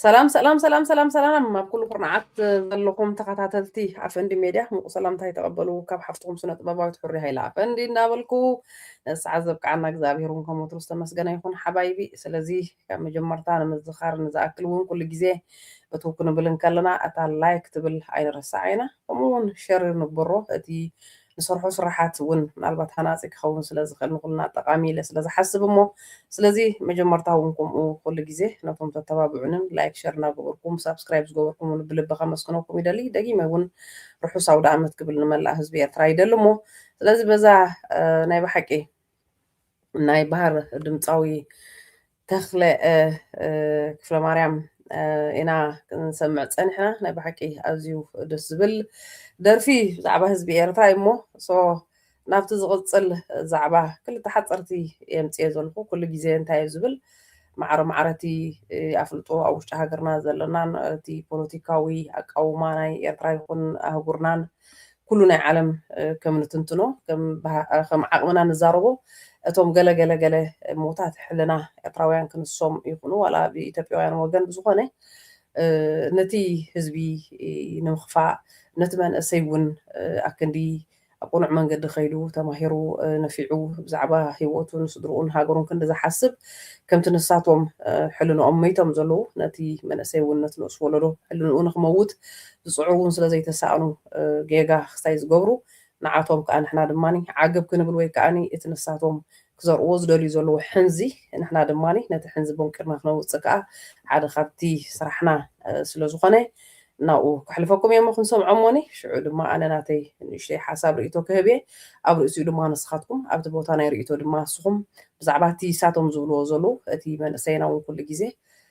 ሰላም ሰላም ሰላም ሰላም ሰላም ኣብ ኩሉ ኩርናዓት ዘለኹም ተኸታተልቲ ኣፈንዲ ሜድያ ምቁ ሰላምታ ይተቐበሉ ካብ ሓፍትኹም ስነ ጥበባዊት ሕሪ ሃይለ ኣፈንዲ እናበልኩ ንሰዓት ዘብቅዓና እግዚኣብሄር እውን ከም ወትሩ ዝተመስገነ ይኹን ሓባይቢ ስለዚ ካብ መጀመርታ ንምዝኻር ንዝኣክል እውን ኩሉ ግዜ እቱ ክንብል እንከለና እታ ላይክ ትብል ኣይንረሳዕ ኢና ከምኡውን ሸር ንግበሮ እቲ ንሰርሖ ስራሓት እውን ምናልባት ሃናፂ ክኸውን ስለዝኽእል ንኹልና ጠቓሚ ኢለ ስለዝሓስብ እሞ ስለዚ መጀመርታ እውን ከምኡ ኩሉ ግዜ ነቶም ተተባብዑንን ላይክ ሸር እናገበርኩም ሳብስክራይብ ዝገበርኩሙን ብልቢ ከመስግነኩም ይደሊ ደጊመ እውን ርሑስ ኣውደኣመት ክብል ንመላእ ህዝቢ ኤርትራ ይደሊ እሞ ስለዚ በዛ ናይ ብሓቂ ናይ ባህር ድምፃዊ ተኽለ ክፍለማርያም ኢና ክንሰምዕ ፀኒሕና ናይ ብሓቂ ኣዝዩ ደስ ዝብል ደርፊ ብዛዕባ ህዝቢ ኤርትራ እዩ እሞ ሶ ናብቲ ዝቕፅል ዛዕባ ክልተ ሓፀርቲ የምፅየ ዘለኹ ኩሉ ግዜ እንታይ እዩ ዝብል ማዕረ ማዕረ እቲ ኣፍልጦ ኣብ ውሽጢ ሃገርና ዘለናን እቲ ፖለቲካዊ ኣቃውማ ናይ ኤርትራ ይኹን ኣህጉርናን ኩሉ ናይ ዓለም ከም ንትንትኖ ከም ዓቅምና ንዛረቦ እቶም ገለ ገለ ገለ ሞታት ሕልና ኤርትራውያን ክንሶም ይኩኑ ዋላ ብ ኢትዮጵያውያን ወገን ብዝኮነ ነቲ ህዝቢ ንምክፋእ ነቲ መንእሰይ ውን ኣክንዲ ኣብ ቅኑዕ መንገዲ ከይዱ ተማሂሩ ነፊዑ ብዛዕባ ሂወቱን ስድርኡን ሃገሩን ክንዲ ዝሓስብ ከምቲ ንሳቶም ሕልንኦም መይቶም ዘለዉ ነቲ መንእሰይ ውን ነቲ ንኡስ ወለዶ ሕልንኡ ንክመውት ዝጽዕሩ ውን ስለ ዘይተሳእኑ ጌጋ ክስታይ ዝገብሩ ንዓቶም ክኣ ንሕና ድማ ዓገብ ክንብል ወይ ክኣ እቲ ንሳቶም ክዘርኡዎ ዝደልዩ ዘለዉ ሕንዚ ንሕና ድማ ነቲ ሕንዚ ቦንቂርና ክነውጽእ ክኣ ሓደ ካብቲ ስራሕና ስለ ዝኾነ ናብኡ ከሕልፈኩም እየ እሞ ክንሰምዖሞኒ ሽዑ ድማ ኣነ ናተይ ንእሽተይ ሓሳብ ርእይቶ ክህብ እየ ኣብ ርእሲኡ ድማ ንስኻትኩም ኣብቲ ቦታ ናይ ርእይቶ ድማ ንስኹም ብዛዕባ እቲ ንሳቶም ዝብልዎ ዘለዉ እቲ መንእሰይና ውን ኩሉ ግዜ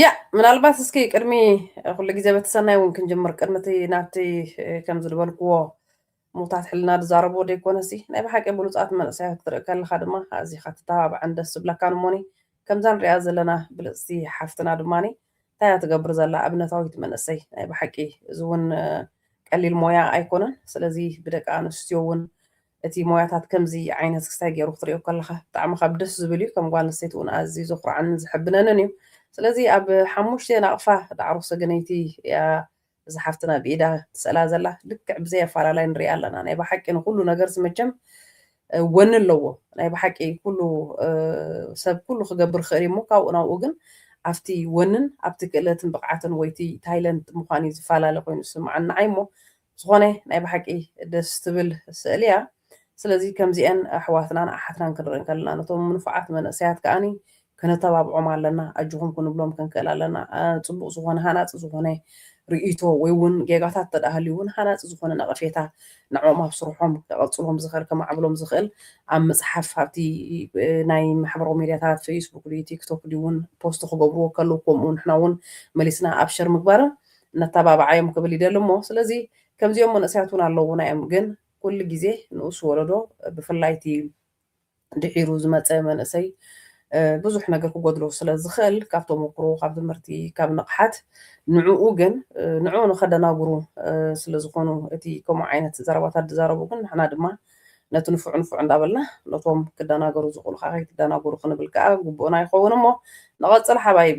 ያእ ምናልባት እስኪ ቅድሚ ኩሉ ግዜ በቲ ሰናይ እውን ክንጅምር ቅድሚ እቲ ናብቲ ከምዚ ዝበልክዎ ምዉታት ሕልና ዝዛረብዎ ደይኮነሲ ናይ ብሓቂ ብሉጻት መንእሰያት ክትርኢ ከለኻ ድማ ኣዚኻ ትተባባዕን ደስ ዝብለካን እሞኒ ከምዛ ንሪኣ ዘለና ብልጽቲ ሓፍትና ድማኒ እንታይ እያ ትገብር ዘላ ኣብነታዊት መንእሰይ ናይ ብሓቂ እዚ እውን ቀሊል ሞያ ኣይኮነን ስለዚ ብደቂ ኣንስትዮ እውን እቲ ሞያታት ከምዚ ዓይነት ክስታይ ጌሩ ክትሪኦ ከለኻ ብጣዕሚ ካብ ደስ ዝብል እዩ ከም ጓል ኣንስተይቲ ውን ኣዝዩ ዘኹርዓንን ዘሐብነንን እዩ ስለዚ ኣብ ሓሙሽተ ናቕፋ ዳዕሮ ሰገነይቲ እያ እዛ ሓፍትና ብኢዳ ትስእላ ዘላ ልክዕ ብዘይ ኣፋላላይ ንሪኣ ኣለና ናይ ብሓቂ ንኹሉ ነገርስ መቸም ወኒ ኣለዎ ናይ ብሓቂ ኩሉ ሰብ ኩሉ ክገብር ክእል እሞ ካብኡ ናብኡ ግን ኣብቲ ወንን ኣብቲ ክእለትን ብቕዓትን ወይቲ ታይለንት ምዃን እዩ ዝፈላለ ኮይኑ ዝስምዓኒ ንዓይ እሞ ዝኮነ ናይ ብሓቂ ደስ ትብል ስእሊ እያ ስለዚ ከምዚኤን ኣሕዋትናን ኣሓትናን ክንርኢ ከለና ነቶም ንፉዓት መንእሰያት ከኣ ከነተባብዖም ኣለና ኣጆኩም ክንብሎም ክንክእል ኣለና ጽቡቅ ዝኮነ ሃናጺ ዝኮነ ርእይቶ ወይ ውን ጌጋታት እንተ ሃልዩ ውን ሃናጺ ዝኮነ ነቀፌታ ንዕኦም ኣብ ስርሖም ከቀጽሎም ዝክእል ከማዕብሎም ዝክእል ኣብ ምጽሓፍ ኣብቲ ናይ ማሕበራዊ ሚድያታት ፈይስቡክ ድዩ ቲክቶክ ድዩ ውን ፖስት ክገብርዎ ከለዉ ከምኡ ንሕና ውን መሊስና ኣብ ሸር ምግባርን ነተባብዓዮም ክብል ይደሊ እሞ ስለዚ ከምዚኦም መንእሰያት ውን ኣለውና እዮም ግን ኩሉ ግዜ ንኡስ ወለዶ ብፍላይ እቲ ድሒሩ ዝመጸ መንእሰይ ብዙሕ ነገር ክጎድሎ ስለ ዝኽእል ካብ ተሞክሮ ካብ ትምህርቲ ካብ ንቕሓት ንዕኡ ግን ንዕኡ ንኸደናግሩ ስለ ዝኾኑ እቲ ከምኡ ዓይነት ዘረባታት ዝዛረቡ ግን ንሕና ድማ ነቲ ንፉዕ ንፉዕ እንዳበልና ነቶም ክደናገሩ ዝኽእሉ ከዓ ከይትደናገሩ ክንብል ከዓ ግቡእና ይኸውን እሞ ንቐጽል ሓባይቢ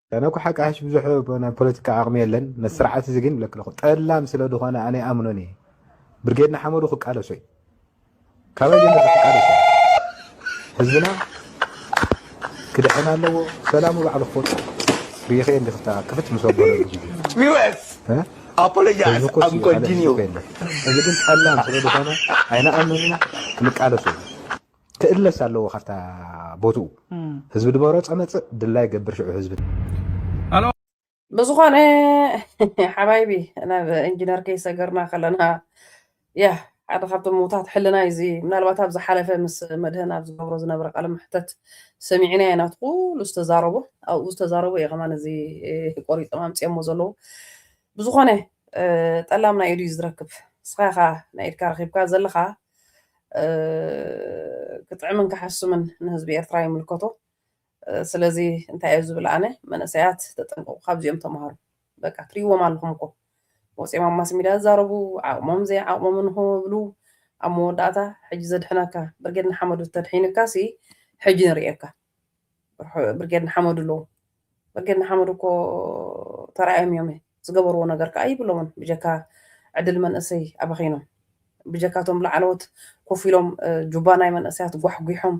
ኣነ እኮ ሓቂ ሓሽ ብዙሕ ናይ ፖለቲካ ዓቕሚ የለን ነቲ ስርዓት እዚ ግን ብለክ ኣለኹ ጠላም ስለ ዝኾነ ኣነ ይኣምኖን እየ ብርጌድ ንሓመዱ ክቃለሶ እዩ ካበይ ጀሚሩ ክቃለሶ ህዝብና ክድሕን ኣለዎ ሰላሙ ባዕሉ ክወፅ ሪኢኸ እንዲ ክፍታ ክፍት ምስ ወገለሉ ግዜ ኣፖሎጃይዝ ኣም ኮንቲኒዩ እዚ ግን ጠላም ስለ ዝኾነ ኣይንኣምኖን ኢና ክንቃለሶ እዩ ክእለስ ኣለዎ ካብታ ቦትኡ ህዝቢ ድመረፆ መፅእ ድላይ ገብር ሽዑ ህዝቢ ብዝኾነ ሓባይቢ ናብ ኢንጂነር ከይሰገርና ከለና ያ ሓደ ካብቶም ምውታት ሕልና እዩ እዚ ምናልባት ኣብ ዝሓለፈ ምስ መድህን ኣብ ዝገብሮ ዝነበረ ቃለ መሕተት ሰሚዕና ኢና ናቱ ኩሉ ዝተዛረቦ ኣብኡ ዝተዛረቦ እዩ ከማን እዚ ቆሪጦም ኣምፅኦሞ ዘለዉ ብዝኾነ ጠላም ናይ ኢዱ እዩ ዝረክብ ንስኻ ኢኻ ናይ ኢድካ ረኪብካ ዘለኻ ክጥዕምን ክሓስምን ንህዝቢ ኤርትራ ይምልከቶ። ስለዚ እንታይ እየ ዝብል ኣነ መንእሰያት ተጠንቀቁ ካብዚኦም ተምሃሩ በቃ ትሪእዎም ኣለኹም እኮ ወፂኦም ኣብ ማስ ሚድያ ዝዛረቡ ዓቕሞም ዘይዓቕሞምን ክብሉ ኣብ መወዳእታ ሕጂ ዘድሕነካ ብርጌድ ንሓመዱ ተድሒንካ ሲ ሕጂ ንርእየካ ብርጌድ ንሓመዱ ኣለዉ ብርጌድ ንሓመዱ እኮ ተራእዮም እዮም ዝገበርዎ ነገር ከዓ ይብሎምን ብጀካ ዕድል መንእሰይ ኣባኺኖም ብጀካቶም ላዕለዎት ኮፍ ኢሎም ጁባ ናይ መንእሰያት ጓሕጒሖም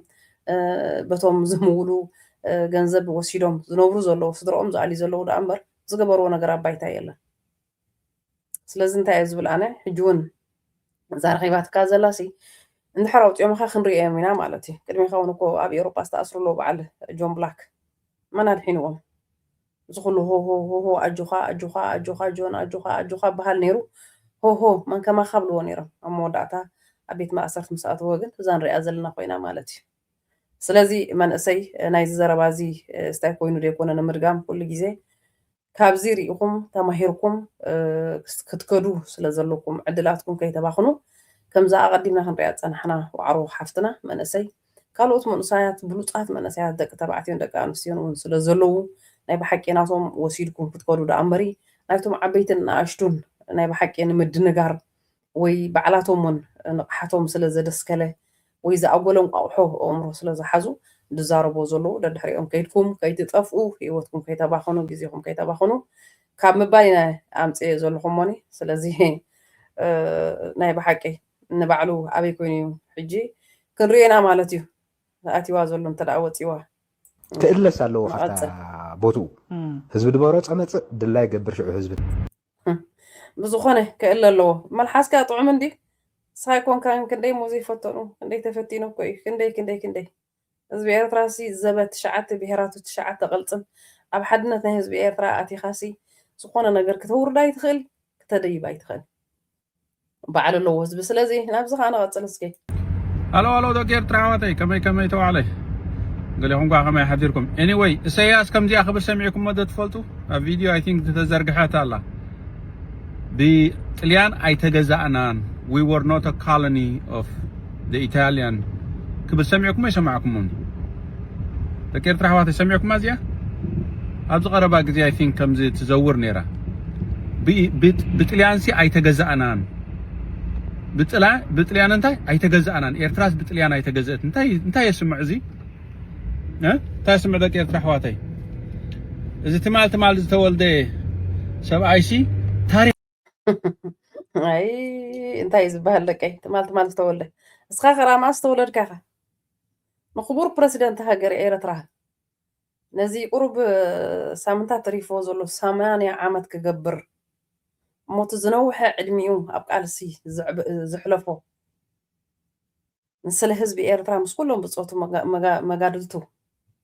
በቶም ዝምውሉ ገንዘብ ወሲዶም ዝነብሩ ዘለዉ ስድሮኦም ዝኣልዩ ዘለዉ ደኣ እምበር ዝገበርዎ ነገር ኣብ ባይታ የለን ስለዚ እንታይ እየ ዝብል ኣነ ሕጂ እውን እዛ ረኺባትካ ዘላሲ እንድሕር ኣውፂኦምኻ ክንሪኦም ኢና ማለት እዩ ቅድሚኻ እውን እኮ ኣብ ኤውሮጳ ዝተኣስሩ ኣለዉ በዓል ጆን ብላክ መን ኣድሒንዎም እዚ ኩሉ ሆሆሆሆ ኣጆኻ ኣጆኻ ኣጆኻ ጆን ኣጆኻ ኣጆኻ በሃል ነይሩ ሆሆ መን ከማኻ ብልዎ ነይሮም ኣብ መወዳእታ ኣብ ቤት ማእሰርቲ ምስ ኣተወ ግን እዛ ንሪኣ ዘለና ኮይና ማለት እዩ ስለዚ መንእሰይ ናይዚ ዘረባ እዚ ስታይ ኮይኑ ዘይኮነ ንምድጋም ኩሉ ግዜ ካብዚ ሪኢኹም ተማሂርኩም ክትከዱ ስለዘለኩም ዕድላትኩም ከይተባኽኑ ከምዛ ኣቐዲምና ክንሪኣ ዝጸናሕና ዋዕሮ ሓፍትና መንእሰይ ካልኦት መንእሰያት ብሉጻት መንእሰያት ደቂ ተባዕትዮን ደቂ ኣንስትዮን እውን ስለዘለዉ ናይ ብሓቂ ናቶም ወሲድኩም ክትከዱ ደኣ እምበሪ ናይቶም ዓበይትን ንኣሽቱን ናይ ብሓቂ ንምድንጋር ወይ ባዕላቶም'ውን ንቕሓቶም ስለ ዘደስከለ ወይ ዝኣጎለ እንቋቑሖ ኣእምሮ ስለ ዝሓዙ ዝዛረቡዎ ዘለዉ ደድሕሪኦም ከይድኩም ከይትጠፍኡ ህይወትኩም ከይተባኽኑ ግዜኹም ከይተባኽኑ ካብ ምባል ኢና ኣምጺኤዮ ዘለኹ እሞኒ ስለዚ ናይ ብሓቂ ንባዕሉ ኣበይ ኮይኑ እዩ ሕጂ ክንሪኦ ኢና ማለት እዩ ኣትይዋ ዘሎ እንተደኣ ወጺዋ ክእለስ ኣለዎ ካብታ ቦትኡ ህዝቢ ድመረጾ መጽእ ድላይ ገብር ሽዑ ህዝቢ ብዝኾነ ክእለ ኣለዎ መልሓስካ ጥዑም እንድዩ ሳይኮንካን ክንደይ ሞዘይ ፈተኑ ክንደይ ተፈቲኑ እኮ እዩ ክንደይ ክንደይ ክንደይ ህዝቢ ኤርትራ ሲ ዘበት ትሽዓተ ብሄራቱ ትሽዓተ ቅልጽም ኣብ ሓድነት ናይ ህዝቢ ኤርትራ ኣቲኻሲ ዝኾነ ነገር ክተውርድ ኣይትኽእል ክተደይብ ኣይትኽእል ባዕሉ ኣለዎ ህዝቢ ስለዚ ናብዚ ከዓ ንቐፅል እስኪ ኣሎ ኣሎ ደቂ ኤርትራ ኣሕዋተይ ከመይ ከመይ ተባዕለይ ገሌኹም ከዓ ከመይ ሓዲርኩም ኤኒወይ እሰያስ ከምዚኣ ክብል ሰሚዕኩሞ ዶ ትፈልጡ ኣብ ቪድዮ ኣይ ቲንክ ተዘርግሐት ኣላ ብጥልያን ኣይተገዛእናን ዊ ወር ኖት ኦፍ the Italian ክብል ሰሚዕኩሞ ኣይሰማዕኩሞን ደቂ ኤርትራ ኣሕዋተይ ሰሚዕኩማ እዚኣ ኣብዚ ቀረባ ግዜ ኣይ ቲንክ ከምዚ ትዘውር ነይራ ብጥልያንሲ ኣይተገዛእናን ብጥልያን እንታይ ኣይተገዛእናን ኤርትራስ ብጥልያን ኣይተገዘእት እንታይ እንታይ የስምዕ እዚ እንታይ የስምዕ ደቂ ኤርትራ ኣሕዋተይ እዚ ትማል ትማል ዝተወልደ ሰብኣይሲ ታሪክ ኣይ እንታይ እዩ ዝበሃል ደቀይ ትማል ትማል ዝተወልደ እስኻ ከራማ ዝተወለድካ ኢኻ ንክቡር ፕረሲደንት ሃገር ኤረትራ ነዚ ቁሩብ ሳምንታት ተሪፍዎ ዘሎ ሰማንያ ዓመት ክገብር እሞቲ ዝነውሐ ዕድሚኡ ኣብ ቃልሲ ዘሕለፎ ንስለ ህዝቢ ኤርትራ ምስ ኩሎም ብጾቱ መጋድልቱ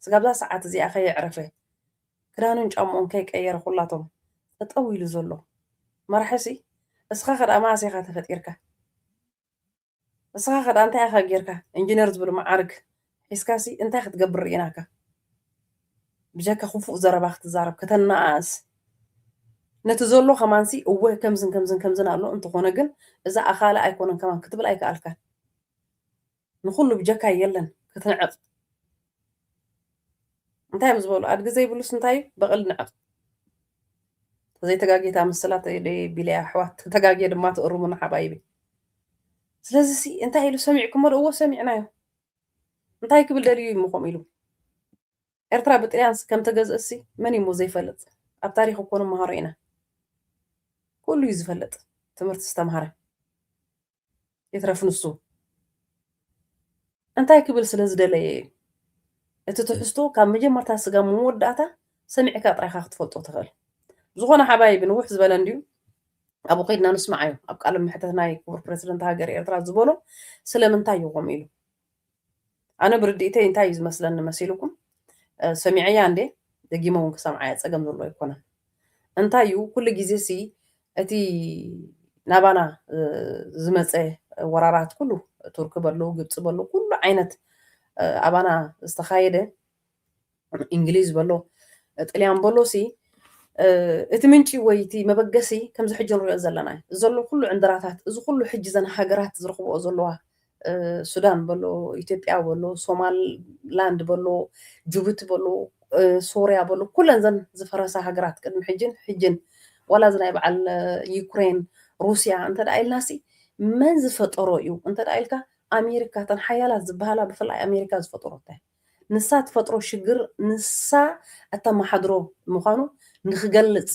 ስጋብዛ ሰዓት እዚኣ ከየዕረፈ ክዳኑን ጫምኡን ከይቀየረ ኩላቶም ጠጠው ኢሉ ዘሎ መራሒ'ሲ እስኻ ከድኣ መኣስ ኢኻ ተፈጢርካ እስኻ ከድኣ እንታይ ኢኻ ጌርካ ኢንጅነር ዝብል መዓርግ ሒዝካ'ሲ እንታይ ክትገብር ርኢናካ። ብጀካ ኩፉእ ዘረባ ክትዛረብ ከተናኣእስ ነቲ ዘሎ ከማንሲ እወ ከምዝን ከምዝን ከምዝን ኣሎ እንተኮነ ግን እዛ ኣካለ ኣይኮነን ከማን ክትብል ኣይከኣልካን ንኩሉ ብጀካይ የለን ክትንዕቅ እንታይ እዮም ዝበሉ ኣድጊ ዘይብሉስ እንታይ እዩ በቕል ንዕቅ ተዘይተጋጌታ ምስላ ቢለያ ኣሕዋት ተጋጌ ድማ ትእርሙና ሓባይቢ ስለዚ እንታይ ኢሉ ሰሚዕኩሞ ዶ እዎ ሰሚዕናዮ እንታይ ክብል ደልዩ እዩ እሞ ከምኡ ኢሉ? ኤርትራ ብጥልያንስ ከም ተገዝእትሲ መን እዩ እሞ ዘይፈልጥ? ኣብ ታሪኽ እኮ ንመሃሮ ኢና። ኩሉ እዩ ዝፈልጥ ትምህርቲ ዝተምሃረ። ይትረፍ ንሱ እንታይ ክብል ስለ ዝደለየ እዩ? እቲ ትሕዝቶ ካብ መጀመርታ ስጋብ መወዳእታ ሰሚዕካ ጥራይ ኢኻ ክትፈልጦ ትኽእል። ብዝኾነ ሓባይቢ ንውሕ ዝበለ እንድዩ ኣብኡ ከድና ንስማዓዮ ኣብ ቃለ መሕተት ናይ ክቡር ፕረሲደንት ሃገር ኤርትራ ዝበሎ ስለምንታይ እዩ ከምኡ ኢሉ ኣነ ብርድኢተይ እንታይ እዩ ዝመስለኒ መሲልኩም ሰሚዐያ እንዴ ደጊመ እውን ክሰምዓያ ፀገም ዘሎ ኣይኮነን እንታይ እዩ ኩሉ ግዜ ሲ እቲ ናባና ዝመፀ ወራራት ኩሉ ቱርክ በሉ ግብፂ በሉ ኩሉ ዓይነት ኣባና ዝተኻየደ እንግሊዝ በሎ ጥልያን በሎ ሲ እቲ ምንጪ ወይ እቲ መበገሲ ከምዚ ሕጂ ንሪኦ ዘለና እዩ ዘሎ ኩሉ ዕንድራታት እዚ ኩሉ ሕጂ ዘን ሃገራት ዝረኽብኦ ዘለዋ ሱዳን በሎ ኢትዮጵያ በሎ ሶማላንድ በሎ ጅቡቲ በሎ ሶርያ በሎ ኩለን ዘን ዝፈረሳ ሃገራት ቅድሚ ሕጅን ሕጅን ዋላ እዚ ናይ በዓል ዩክሬን ሩስያ እንተ ደኣ ኢልናሲ መን ዝፈጠሮ እዩ እንተ ደኣ ኢልካ ኣሜሪካ ተን ሓያላት ዝበሃላ ብፍላይ ኣሜሪካ ዝፈጠሮ እንታይ ንሳ ትፈጥሮ ሽግር ንሳ እተመሓድሮ ምዃኑ ንኽገልጽ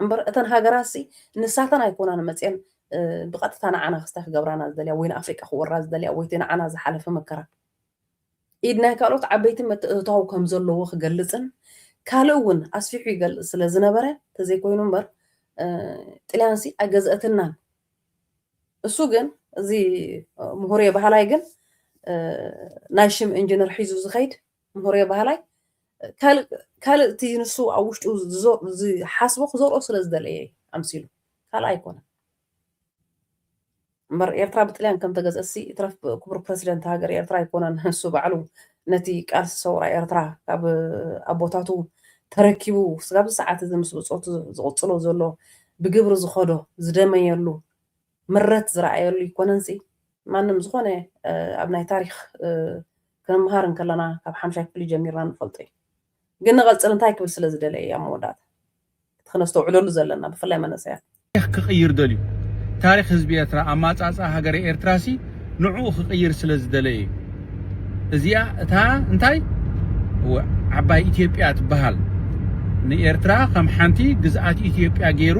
እምበር እተን ሃገራትሲ ንሳተን ኣይኮናን መጽየን ብቐጥታ ንዓና ክስታይ ክገብራና ዝደልያ ወይ ንኣፍሪቃ ክወራ ዝደልያ ወይ እቲ ንዓና ዝሓለፈ መከራ ኢድ ናይ ካልኦት ዓበይቲ ምትእትታው ከም ዘለዎ ክገልጽን ካልእ እውን ኣስፊሑ ይገልጽ ስለ ዝነበረ ተዘይኮይኑ እምበር ጥልያንሲ ኣይገዝአትልናን። እሱ ግን እዚ ምሁርየ ባህላይ ግን ናይ ሽም ኢንጂነር ሒዙ ዝኸይድ ምሁርየ ባህላይ ካልእ እቲ ንሱ ኣብ ውሽጡ ዝሓስቦ ክዘርኦ ስለ ዝደለየ ኣምሲሉ ካልእ ኣይኮነን እምበር ኤርትራ ብጥልያን ከም ተገዝእሲ ይትረፍ ክቡር ፕረሲደንት ሃገር ኤርትራ ኣይኮነን ንሱ ባዕሉ ነቲ ቃልሲ ሰውራ ኤርትራ ካብ ኣቦታቱ ተረኪቡ ስጋብ ሰዓት እዚ ምስ ብፆቱ ዝቕፅሎ ዘሎ ብግብሪ ዝኸዶ ዝደመየሉ ምረት ዝረኣየሉ ይኮነንሲ ማንም ዝኾነ ኣብ ናይ ታሪኽ ክንምሃር እንከለና ካብ ሓምሻይ ክፍሊ ጀሚርና ንፈልጦ እዩ ግን ንቐጽል እንታይ ክብል ስለ ዝደለ እዩ ኣብ መወዳእታ እቲ ክነስተውዕለሉ ዘለና ብፍላይ መነሰያት። ታሪኽ ክቕይር ደልዩ ታሪኽ ህዝቢ ኤርትራ ኣማጻጽኣ ሃገረ ኤርትራሲ። ንዕኡ ክቅይር ስለ ዝደለየ እዩ እዚኣ እታ እንታይ እወ ዓባይ ኢትዮጵያ ትበሃል ንኤርትራ ከም ሓንቲ ግዝኣት ኢትዮጵያ ጌሩ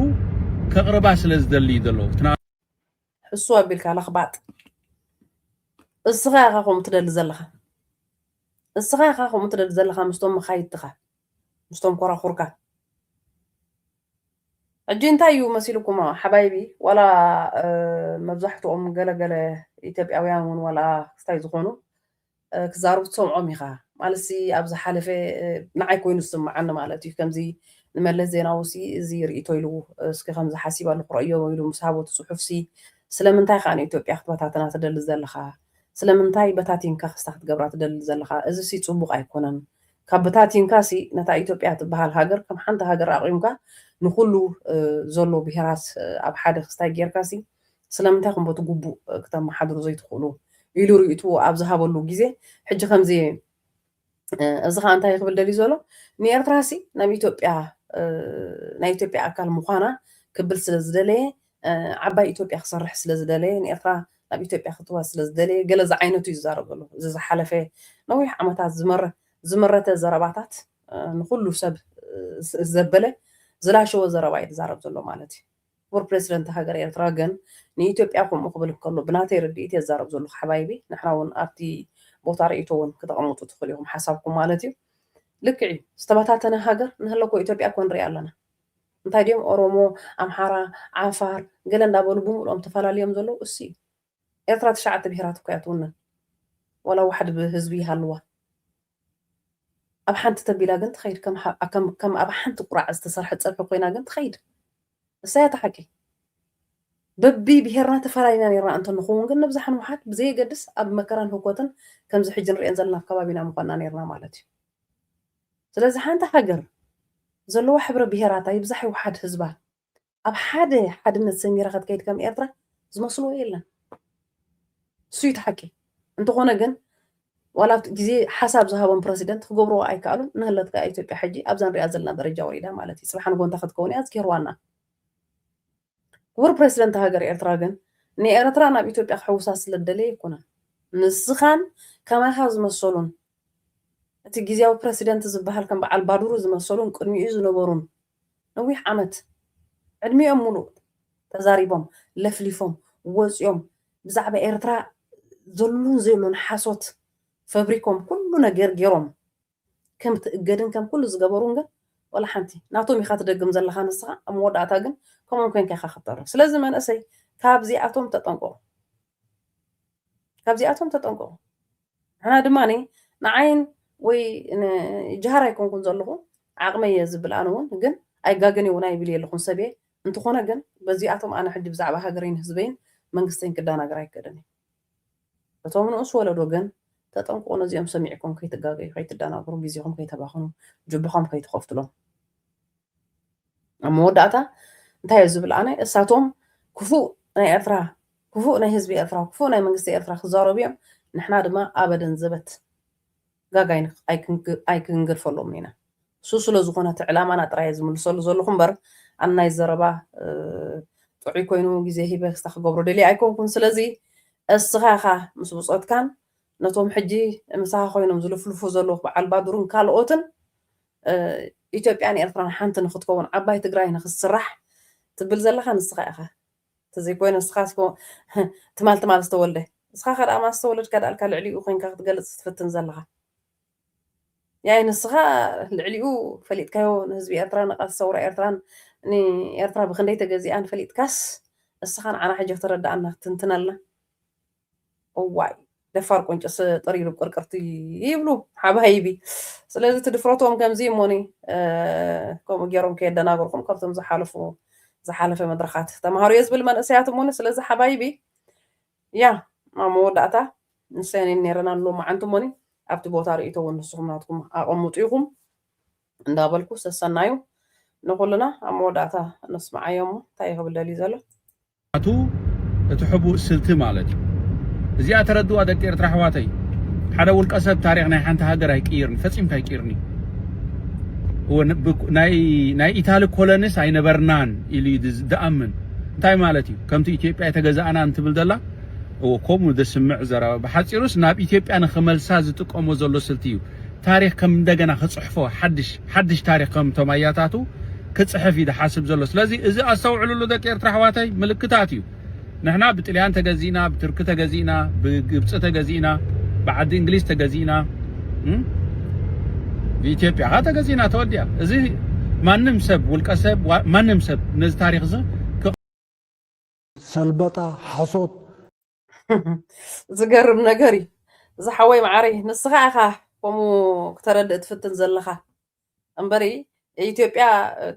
ከቅርባ ስለ ዝደሊ እዩ ዘሎ ሕሱር ኣቢልካ ለኽባጥ እስኻ ኢኻ ከምኡ ትደሊ ዘለኻ እስኻ ኢኻ ከምኡ ትደሊ ዘለኻ ምስቶም መኻይድትኻ ምስቶም ኮራኹርካ። ሕጂ እንታይ እዩ መሲሉኩም ሓባይቢ ዋላ መብዛሕትኦም ገለ ገለ ኢትዮጵያውያን ውን ዋላ ክስታይ ዝኾኑ ክዛረቡ ትሰምዖም ኢኻ ማለትሲ ኣብ ዝሓለፈ ንዓይ ኮይኑ ዝስምዓኒ ማለት እዩ ከምዚ ንመለስ ዜናውሲ እዚ ርኢቶ ኢሉ እስኪ ከምዚ ሓሲበሉ ክረእዮ ኢሉ ምስ ሃቦ ትጽሑፍሲ ስለምንታይ ከኣ ንኢትዮጵያ ክትበታትና ትደሊ ዘለኻ ስለምንታይ በታቲንካ ክስታ ክትገብራ ትደሊ ዘለኻ እዚሲ ጽቡቕ ኣይኮነን ካብ በታቲንካሲ ነታ ኢትዮጵያ ትበሃል ሃገር ከም ሓንቲ ሃገር ኣቚምካ ንኹሉ ዘሎ ብሄራት ኣብ ሓደ ክስታይ ጌርካሲ ስለምንታይ እኹም በቲ ግቡእ ክተመሓድሩ ዘይትኽእሉ? ኢሉ ርእይትኡ ኣብ ዝሃበሉ ግዜ ሕጂ ከምዚ እዚ ኸኣ እንታይ እዩ ክብል ደልዩ ዘሎ ንኤርትራሲ ናብ ኢትዮጵያ ናይ ኢትዮጵያ ኣካል ምዃና ክብል ስለ ዝደለየ ዓባይ ኢትዮጵያ ክሰርሕ ስለ ዝደለየ ንኤርትራ ናብ ኢትዮጵያ ክትዋ ስለ ዝደለየ ገለ ዝዓይነቱ እዩ ዝዛረብ ዘሎ እዚ ዝሓለፈ ነዊሕ ዓመታት ዝመረ ዝመረተ ዘረባታት ንኹሉ ሰብ ዘበለ ዝላሸወ ዘረባ እዩ ዝዛረብ ዘሎ ማለት እዩ ክቡር ፕሬሲደንት ሃገር ኤርትራ ግን ንኢትዮጵያ ከምኡ ክብል ከሎ ብናተይ ርድኢት እየ ዝዛረብ ዘለኹ ሓባይቢ ንሕና እውን ኣብቲ ቦታ ርእይቶ እውን ክተቐምጡ ትኽእሉ ኢኹም ሓሳብኩም ማለት እዩ ልክዕ እዩ ዝተበታተነ ሃገር ንህለኮ ኢትዮጵያ እኮ ንርኢ ኣለና እንታይ ድዮም ኦሮሞ ኣምሓራ ዓፋር ገለ እንዳበሉ ብምልኦም ተፋላልዮም ዘለዉ እሱ እዩ ኤርትራ ትሽዓተ ብሄራት እኮ እያ ትውንን ዋላ ዋሕድ ህዝቢ ይሃልዋ ኣብ ሓንቲ ተቢላ ግን ትኸይድ ከም ኣብ ሓንቲ ቁራዕ ዝተሰርሐ ፀብሒ ኮይና ግን ትኸይድ እሳ እያ ተሓቂ በቢ ብሄርና ተፈላለና ነርና እንተ ንኸውን ግን ንብዛሕ ንውሓድ ብዘየገድስ ኣብ መከራን ህኮትን ከምዚ ሕጂ ንሪኤን ዘለና ኣብ ከባቢና ምኾንና ነርና ማለት እዩ ስለዚ ሓንቲ ሃገር ዘለዋ ሕብረ ብሄራታ ይብዛሕ ይውሓድ ህዝባ ኣብ ሓደ ሓድነት ሰሚራ ክትከይድ ከም ኤርትራ ዝመስልዎ የለን። ንሱ እዩ እቲ ሓቂ። እንተኾነ ግን ዋላ ኣብቲ ግዜ ሓሳብ ዝሃቦም ፕረሲደንት ክገብርዎ ኣይከኣሉን። ንህለት ከኣ ኢትዮጵያ ሕጂ ኣብዛ ንሪኣ ዘለና ደረጃ ወሪዳ ማለት እዩ። ጽባሕ ንጎንታ ክትከውን እያ ኣዝኪርዋና። ክቡር ፕረሲደንት ሃገር ኤርትራ ግን ንኤረትራ ናብ ኢትዮጵያ ክሕውሳ ስለ ዝደለየ ኣይኮነን ንስኻን ከማኻ ዝመሰሉን እቲ ጊዚያዊ ፕረሲደንት ዝብሃል ከም በዓል ባዱሩ ዝመሰሉን ቅድሚኡ ዝነበሩን ነዊሕ ዓመት ዕድሚኦም ሙሉእ ተዛሪቦም ለፍሊፎም ወጽዮም ብዛዕባ ኤርትራ ዘሉን ዘየሉን ሓሶት ፈብሪኮም ኩሉ ነገር ጌሮም ከም ትእገድን ከም ኩሉ ዝገበሩን ግን ወላ ሓንቲ ናቶም ኢካ ትደግም ዘለካ ንስካ ኣብ መወዳእታ ግን ከምኦም ኮንካ ኢካ ክትተርፍ ስለዚ መንእሰይ ካብዚኣቶም ተጠንቆቁ ካብዚኣቶም ተጠንቆቁ ንሕና ድማ ንዓይን ወይ ንጅሃር ኣይኮንኩን ዘለኹ ዓቕመይ እየ ዝብል ኣነ እውን ግን ኣይጋገን እውን ኣይብል የለኹን ሰብ እየ እንተኾነ ግን በዚኣቶም ኣነ ሕጂ ብዛዕባ ሃገረይን ህዝበይን መንግስተይን ክደናገር ኣይክእልን እዩ እቶም ንኡስ ወለዶ ግን ተጠንቀቁ ነዚኦም ሰሚዕኩም ከይትጋገዩ ከይትዳናገሩ ግዜኹም ከይተባኽኑ ጁባኹም ከይትኸፍቱሎም ኣብ መወዳእታ እንታይ ዝብል ኣነ እሳቶም ክፉእ ናይ ኤርትራ ክፉእ ናይ ህዝቢ ኤርትራ ክፉእ ናይ መንግስቲ ኤርትራ ክዛረቡ እዮም ንሕና ድማ ኣበደን ዘበት ጋግ ኣይክንገድፈሎምን ኢና። እሱ ስለ ዝኾነ እቲ ዕላማና ጥራይ'የ ዝምልሰሉ ዘለኹ እምበር ኣብ ናይ ዘረባ ጥዑይ ኮይኑ ግዜ ሂበ ክስታ ክገብሮ ደልየ ኣይኮንኩን። ስለዚ እስኻ ኢኻ ምስ ብጾትካን ነቶም ሕጂ ምሳኻ ኮይኖም ዝልፍልፉ ዘለዉ በዓል ባዱሩን ካልኦትን ኢትዮጵያን ኤርትራን ሓንቲ ንኽትከውን ዓባይ ትግራይ ንኽትስራሕ ትብል ዘለኻ ንስኻ ኢኻ። ተዘይኮይኑ ንስኻስ እኮ ትማል ትማል ዝተወልደ ንስኻኻ ደኣ ማን ዝተወለድካ ደኣ ኢልካ ልዕሊኡ ኮንካ ክትገልጽ ትፍትን ዘለኻ ያይ ንስኻ ልዕሊኡ ፈሊጥካዮ ንህዝቢ ኤርትራ ንቓልሲ ሰውራ ኤርትራን ንኤርትራ ብክንደይ ተገዚኣን ፈሊጥካስ ንስኻ ንዓና ሕጂ ክትረድኣና ክትንትነልና እዋይ ደፋር ቁንጭስ ጥሪሩ ብ ቅርቅርቲ ይብሉ ሓባይቢ ስለዚ እቲ ድፍረቶም ከምዚ እሞኒ ከምኡ ገይሮም ከየደናገርኩም ካብቶም ዝሓለፉ ዝሓለፈ መድረኻት ተማሃሩ እየ ዝብል መንእሰያት እሞኒ ስለዚ ሓባይቢ ያ ኣብ መወዳእታ ንሰኒ ነይረን ኣሎ መዓንቲ እሞኒ ኣብቲ ቦታ ርእቶ እውን ንስኹም ናትኩም ኣቐምጡ ኢኹም እንዳበልኩ ሰሰናዩ ንኹልና ኣብ መወዳእታ ነስምዓዮ እሞ እንታይ ክብል ደልዩ ዘሎ ኣቱ እቲ ሕቡእ ስልቲ ማለት እዩ እዚኣ ተረድዋ ደቂ ኤርትራ ኣሕዋተይ ሓደ ውልቀ ሰብ ታሪኽ ናይ ሓንቲ ሃገር ኣይቅይርን ፈጺምካ ኣይቅይርኒ እወ ናይ ናይ ኢታሊ ኮለንስ ኣይነበርናን ኢሉ እዩ ዝኣምን እንታይ ማለት እዩ ከምቲ ኢትዮጵያ የተገዛእና እንትብል ዘላ እወ ከምኡ ዘስምዕ ዘረባ ብሓጺሩስ ናብ ኢትዮጵያ ንኽመልሳ ዝጥቀሞ ዘሎ ስልቲ እዩ ታሪኽ ከም እንደገና ክጽሕፎ ሓድሽ ሓድሽ ታሪኽ ከም እቶም ኣያታቱ ክጽሕፍ እዩ ዝሓስብ ዘሎ ስለዚ እዚ ኣስተውዕልሉ ደቂ ኤርትራ ኣሕዋተይ ምልክታት እዩ ንሕና ብጥልያን ተገዚእና ብትርኪ ተገዚእና ብግብጺ ተገዚእና ብዓዲ እንግሊዝ ተገዚእና ብኢትዮጵያ ካ ተገዚእና ተወዲኣ እዚ ማንም ሰብ ውልቀ ሰብ ማንም ሰብ ነዚ ታሪኽ እዚ ሰልበጣ ሓሶት ዝገርም ነገር እዩ ዝሓወይ መዓረይ ንስኻ ኢኻ ከምኡ ክተረድእ ትፍትን ዘለኻ እምበሪ ኢትዮጵያ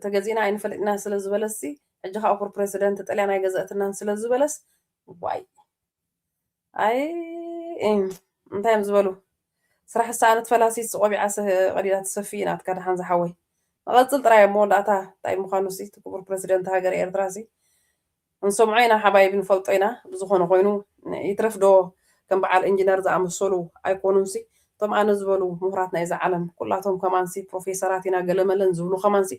ተገዚእና ኣይንፈልጥና ስለ ዝበለስ ሕጂ ከዓ ኩር ፕሬዚደንት ጥልያን ኣይገዘእትናን ስለ ዝበለስ ዋይ ኣይ እንታይ እዮም ዝበሉ ስራሕ ሰኣነት ፈላሲት ስቆቢዓ ቀዲዳ ትሰፊ ናትካ ድሓን ዝሓወይ ንቐፅል ጥራይ እሞ ዳእታ እንታይ ምዃኑ ሲ ክቡር ፕሬዚደንት ሃገር ኤርትራ ሲ ክንሰምዖ ኢና ሓባይቢ ንፈልጦ ኢና ብዝኮነ ኮይኑ ይትረፍ ዶ ከም በዓል እንጅነር ዝኣመሰሉ ኣይኮኑንሲ እቶም ኣነ ዝበሉ ሙሁራት ናይዛ ዓለም ኩላቶም ከማንሲ ፕሮፌሰራት ኢና ገለመለን ዝብሉ ከማንሲ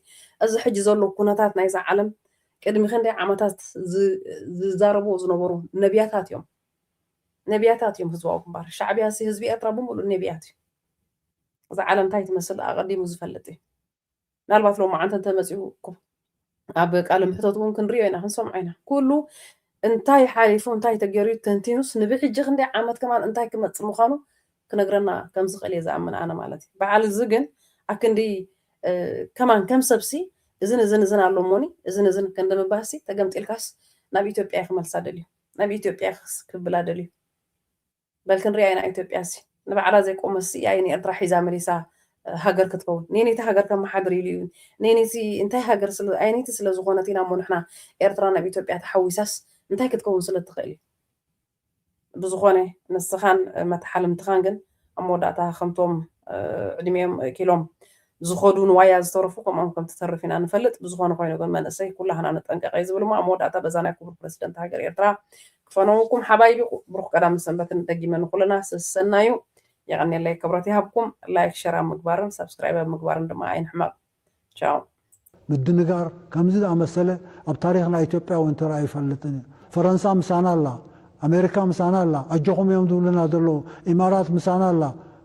እዚ ሕጂ ዘሎ ኩነታት ናይዛ ዓለም ቅድሚ ክንደይ ዓመታት ዝዛረብዎ ዝነበሩ ነብያታት እዮም ነብያታት እዮም ህዝባዊ ግንባር ሻዕብያሲ ህዝቢ ኤርትራ ብምሉእ ነብያት እዩ እዛ ዓለም እንታይ ትመስል ኣቀዲሙ ዝፈልጥ እዩ። ምናልባት ሎማዓንቲ እንተመፂኡ እኮ ኣብ ቃለ ምሕተት እውን ክንሪኦ ኢና ክንሰምዖ ኢና ኩሉ እንታይ ሓሊፉ እንታይ ተገይሩ እዩ ተንቲኑስ ንብሕጂ ክንደይ ዓመት ከማን እንታይ ክመፅእ ምዃኑ ክነግረና ከም ዝኽእል እየ ዝኣምን ኣነ ማለት እዩ በዓል እዚ ግን ኣክንዲ ከማን ከም ሰብሲ እዝን እዝን እዝን ኣሎ እሞኒ እዝን እዝን ክንዲ ምባልሲ ተገምጢልካስ ናብ ኢትዮጵያ ክመልሳ ደልዩ ናብ ኢትዮጵያ ክብላ ደልዩ በል ክንሪኣ ኢና ኢትዮጵያሲ ንባዕላ ዘይቆመት ስኢያ ን ኤርትራ ሒዛ መሊሳ ሃገር ክትከውን ነየነይቲ ሃገር ከመሓድር ኢሉ እዩ ነየነይቲ እንታይ ሃገር ስለ ኣየነይቲ ስለ ዝኾነት ኢና እሞ ንሕና ኤርትራ ናብ ኢትዮጵያ ተሓዊሳስ እንታይ ክትከውን ስለ ትኽእል እዩ ብዝኾነ ንስኻን መታሓልምትኻን ግን ኣብ መወዳእታ ከምቶም ዕድሜኦም ኪሎም ዝኸዱ ንዋያ ዝተረፉ ከምኦም ከም ትተርፍ ኢና ንፈልጥ ብዝኾነ ኮይኑ ግን መንእሰይ ኩላህና ንጠንቀቅ እየ ዝብል እሞ ኣብ መወዳእታ በዛ ናይ ኩቡር ፕረሲደንት ሃገር ኤርትራ ክፈነወኩም ሓባይቢ ብሩኽ ቀዳምን ሰንበትን ደጊመ ንኹልና ሰሰናዩ የቀኔለይ ክብረት ይሃብኩም ላይክ ሸር ኣብ ምግባርን ሳብስክራይብ ኣብ ምግባርን ድማ ኣይንሕመቅ ቻው። ምድንጋር ከምዚ ዝኣመሰለ ኣብ ታሪኽ ናይ ኢትዮጵያ እውን ተራእዩ ኣይፈልጥን እዩ። ፈረንሳ ምሳና ኣላ፣ ኣሜሪካ ምሳና ኣላ፣ ኣጆኹም እዮም ዝብሉና ዘለዉ፣ ኢማራት ምሳና ኣላ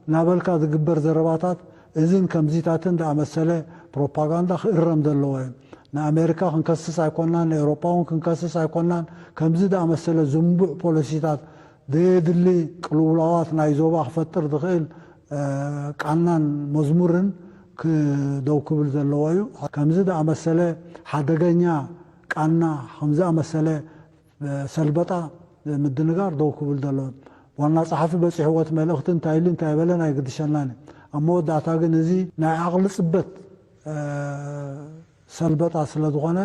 እናበልካ ዝግበር ዘረባታት እዝን ከምዚታትን ዝኣመሰለ ፕሮፓጋንዳ ክእረም ዘለዎ እዩ። ንኣሜሪካ ክንከስስ ኣይኮናን፣ ንኤውሮጳ እውን ክንከስስ ኣይኮናን፣ ከምዚ ዝኣመሰለ ዝንቡዕ ፖሊሲታት ዘየድሊ ቅልውላዋት ናይ ዞባ ክፈጥር ዝኽእል ቃናን መዝሙርን ክደው ክብል ዘለዎ እዩ። ከምዚ ዝኣመሰለ ሓደገኛ ቃና፣ ከምዚ ዝኣመሰለ ሰልበጣ ምድንጋር ደው ክብል ዘለዎ እዩ። ዋና ጸሓፊ በጺሕዎ እቲ መልእኽቲ እንታይ ኢሉ እንታይ በለን ኣይግድሸናን እዩ። ኣብ መወዳእታ ግን እዚ ናይ ዓቕሊ ጽበት ሰልበጣ ስለ ዝኾነ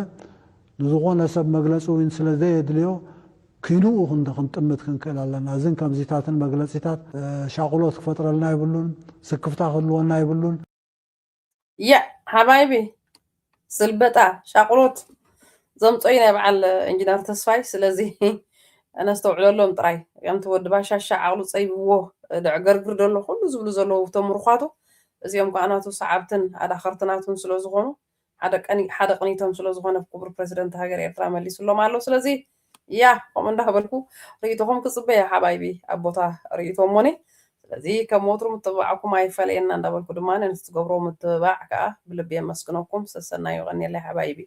ንዝኾነ ሰብ መግለጺ እውን ስለ ዘየድልዮ ኪንኡ ክንዲ ክንጥምት ክንክእል ኣለና። እዝን ከምዚታትን መግለጺታት ሻቕሎት ክፈጥረልና የብሉን፣ ስክፍታ ክህልወና የብሉን። ያዕ ሓባይቢ ስልበጣ ሻቕሎት ዘምጾ እዩ ናይ በዓል ኢንጅነር ተስፋይ ስለዚ ነስተውዕለሎም ጥራይ ከምቲ ወዲ ባሻሻ ዓቕሉ ጸይብዎ ደዕገርግር ደሎ ኩሉ ዝብሉ ዘለዉ ተምሩዃቱ እዚኦም ከኣ ናቱ ሰዓብትን ኣዳኸርቲ ናቱን ስለዝኾኑ ሓደ ቀኒ ሓደ ቅኒቶም ስለ ዝኾነ ክቡር ፕረሲደንት ሃገር ኤርትራ መሊሱሎም ኣሎ ስለዚ ያ ከምኡ እንዳበልኩ ርእይቶኹም ክጽበ እየ ሓባይቢ ኣብ ቦታ ርእይቶ እሞኒ ስለዚ ከም ወትሩ ምትብባዕኩም ኣይፈለየና እንዳበልኩ ድማ ነቲ ትገብሮ ምትብባዕ ከኣ ብልቢ የመስግነኩም ሰሰናዩ ቀኒየለይ ሓባይቢ